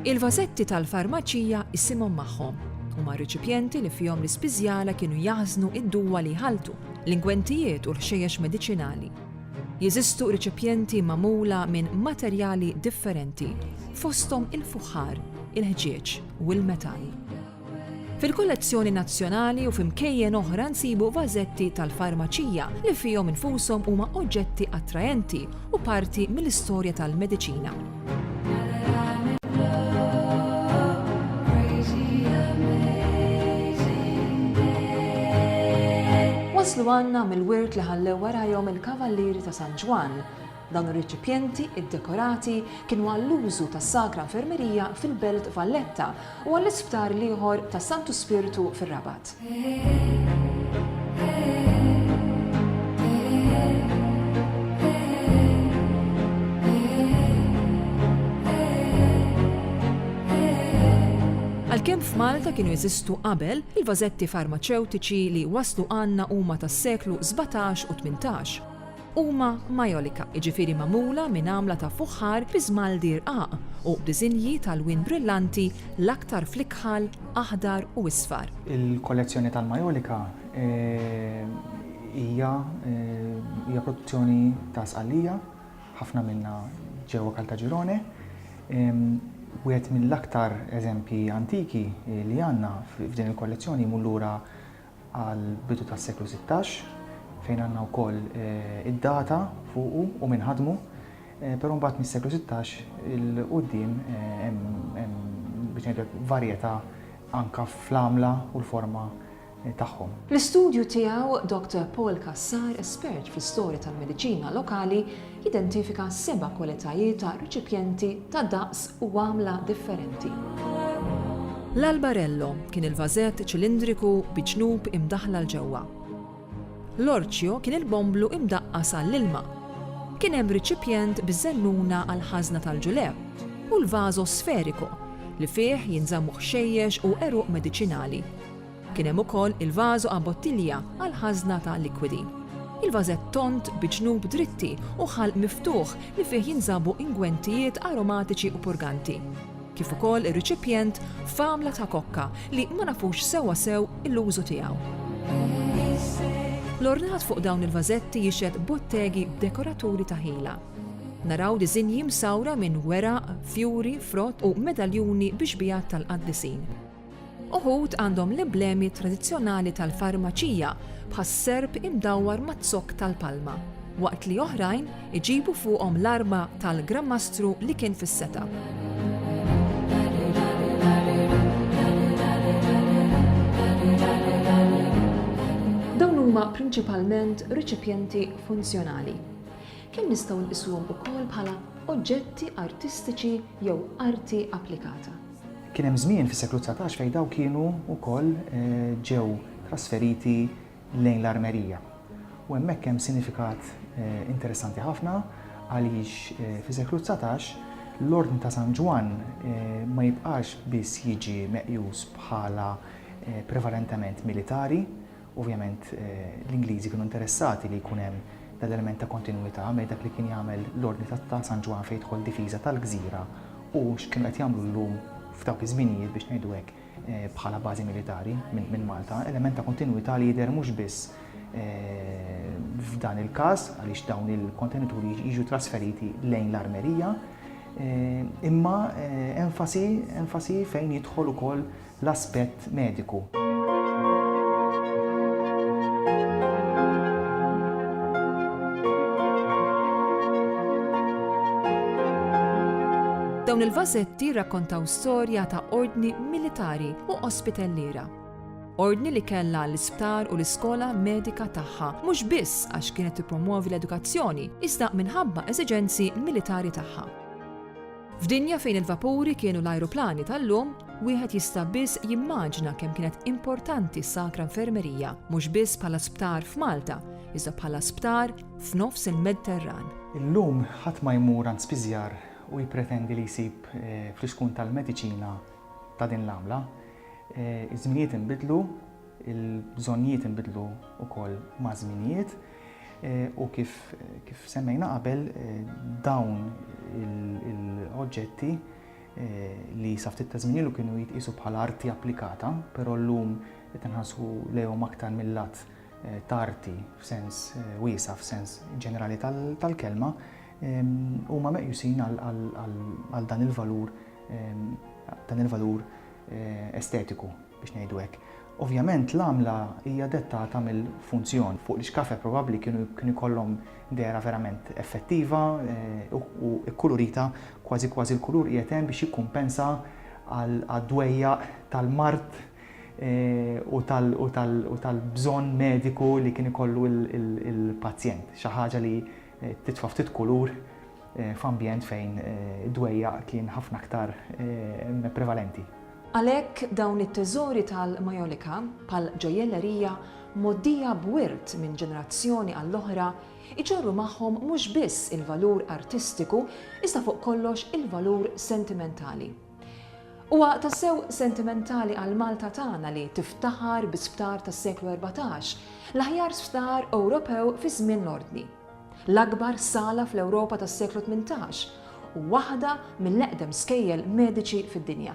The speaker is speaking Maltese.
Il-vażetti tal-farmaċija isimhom magħhom. Huma riċipjenti li fihom l-ispiżjala kienu jaħżnu id-duwa li jħaltu, l-ingwentijiet u l-ħxejjex mediċinali. Jeżistu riċipjenti magħmula minn materjali differenti, fosthom il-fuħħar, il-ħġieġ u l-metall. Fil-kollezzjoni nazzjonali u f'imkejjen oħra nsibu vażetti tal-farmaċija li fihom infushom huma oġġetti attraenti u parti mill-istorja tal-mediċina. Waslu għandna mill-wirt li ħallew warajhom il-Kavallieri ta' San Ġwann, Dawn ir-reċipjenti ddekorati kienu għall-użu tas-Sagra Infermerija fil-Belt Valletta u għall-isptar l-ieħor tas-Santu Spirtu fir-Rabat. Għalkemm f'Malta kienu jeżistu qabel, il-vażetti farmaċewtiċi li waslu għandna huma tas-seklu sbatax u tmintax. Huma majolika, jiġifieri magħmula minn għamla ta' fuħħar bi żmaldi rqaq u b'diżinji t'alwien brillanti l-aktar fl-ikħal, aħdar u isfar. Il-kollezzjoni tal-majolika hija hija produzzjoni ta' Sqallija, ħafna minnha ġewwa Caltagirone. Wieħed mill-aktar eżempji antiki li għandna f'din il-kollezzjoni jmur lura għall-bidu tas-seklu sittax, fejn għandna wkoll id-data fuqu u min ħadmu, però mbagħad mis-seklu sittax 'il quddiem hemm biex ngħidlek varjetà anke fl-għamla u l-forma tagħhom. Fl-istudju tiegħu, Doctor Paul Cassar, espert fl-istorja tal-mediċina lokali, Jidentifika seba' kwalitajiet ta' reċipjenti ta' daqs u għamla differenti. L-albarello kien il-vażett ċilindriku bi ġnub imdaħħla 'l ġewwa. L-orċjo kien il-bomblu imdaqqas għall-ilma. Kien hemm riċipjent biż-żennuna għall-ħażna tal-ġulew, u l-vażo sferiku, li fih jinżammu ħxejjex u għeruq mediċinali. Kien hemm ukoll il-vażu a bottiglia għall-ħażna ta' likwidi. Il-vażett tond bi ġnub dritti u ħalq miftuħ li fih jinżabu ingwentijiet aromatiċi u purganti, kif ukoll ir-riċipjent f'għamla ta' kokka li ma nafux sewwa sew l-użu tiegħu. L-ornat fuq dawn il-vażetti jixhed bottegi b'dekoraturi ta' ħila. Naraw diżinji msawra minn weraq, fjuri, frott u medaljuni bi xbiehat tal-qaddisin. Uħud għandhom l-iblemi tradizzjonali tal-farmaċija bħas-serp imdawwar maz-zokk tal-palma, waqt li oħrajn iġibu fuqhom l-arma tal-Gran Mastru li kien fis-setgħa. huma prinċipalment riċipjenti funzjonali. Kien nistgħu nqisuhom ukoll bħala oġġetti artistiċi jew arti applikata. Kien hemm żmien fis-seklu dsatax fejn dawn kienu wkoll ġew trasferiti lejn l-armerija. U hemmhekk hemm sinifikat interessanti ħafna għaliex fis-seklu dsatax l-Ordni ta' San Ġwann ma jibqax biss jiġi meqjus bħala prevalentement militari, Ovvjament l-Ingliżi kienu interessati li jkun hemm dan l-element ta' kontinwità bejn dak li kien jagħmel l-Ordni ta' San Ġwann fejn jidħol difiża tal-gżira u x'kienu qed jagħmlu llum f'dawk iż-żminijiet biex ngħidu hekk bħala bażi militari minn Malta, element ta' kontinwità li jidher mhux biss f'dan il-każ għaliex dawn il-kontenituri jiġu trasferiti lejn l-armerija imma enfasi fejn jidħol ukoll l-aspett mediku. Dawn il-vażetti jirrakkontaw storja ta' ordni militari u ospitalliera. Ordni li kellha l-isptar u l-iskola medika tagħha, mhux biss għax kienet tippromwovi l-edukazzjoni, iżda minħabba eżiġenzi militari tagħha. F'dinja fejn il-vapuri kienu l-ajruplani tal-lum, wieħed jista' biss jimmaġna kemm kienet importanti s-Sacra Infermeria, mhux biss bħala sptar f'Malta, iżda bħala sptar f'nofs il-Medterran. Illum ħadd ma jmur għand spiżjar u jippretendi li jsib fl-iskun tal-mediċina ta' din l-għamla. Iż-żminijiet inbidlu, il-bżonnijiet inbidlu wkoll maż-żminijiet. U kif semmejna qabel dawn il-oġġetti li sa ftit ta' żmien ilu kienu jitqisu bħala arti applikata, però llum qed inħassu lejhom aktar mill-lat ta' arti f'sens wiesa' f'sens ġenerali tal-kelma, huma meqjusin għal dan il-valur dan il-valur estetiku biex ngħidu hekk. Ovvjament l-għamla hija dettata mill-funzjon, fuq l-ixkafe probabbli kienu kien ikollhom dehra verament effettiva u kkulurita, kważi kważi l-kulur qiegħed hemm biex jikkumpensa għad-dwejjaq tal-mard u tal-bżonn mediku li kien ikollu l-pazjent, xi ħaġa li Titfa' ftit kulur f'ambjent fejn id-dwejjaq kien ħafna aktar prevalenti. Għalhekk dawn it-teżori tal-Majolica, bħal ġojjellerija mgħoddija b'wirt minn ġenerazzjoni għall-oħra, iġorru magħhom mhux biss il-valur artistiku iżda fuq kollox il-valur sentimentali. Huwa tassew sentimentali għal Malta tagħna li tiftaħar bi sptar tas-seklu erbatax, l-aħjar sptar Ewropew fi żmien l-Ordni, l-akbar sala fl-Ewropa tas-seklu tmintax u waħda mill-eqdem skejjel mediċi fid-dinja.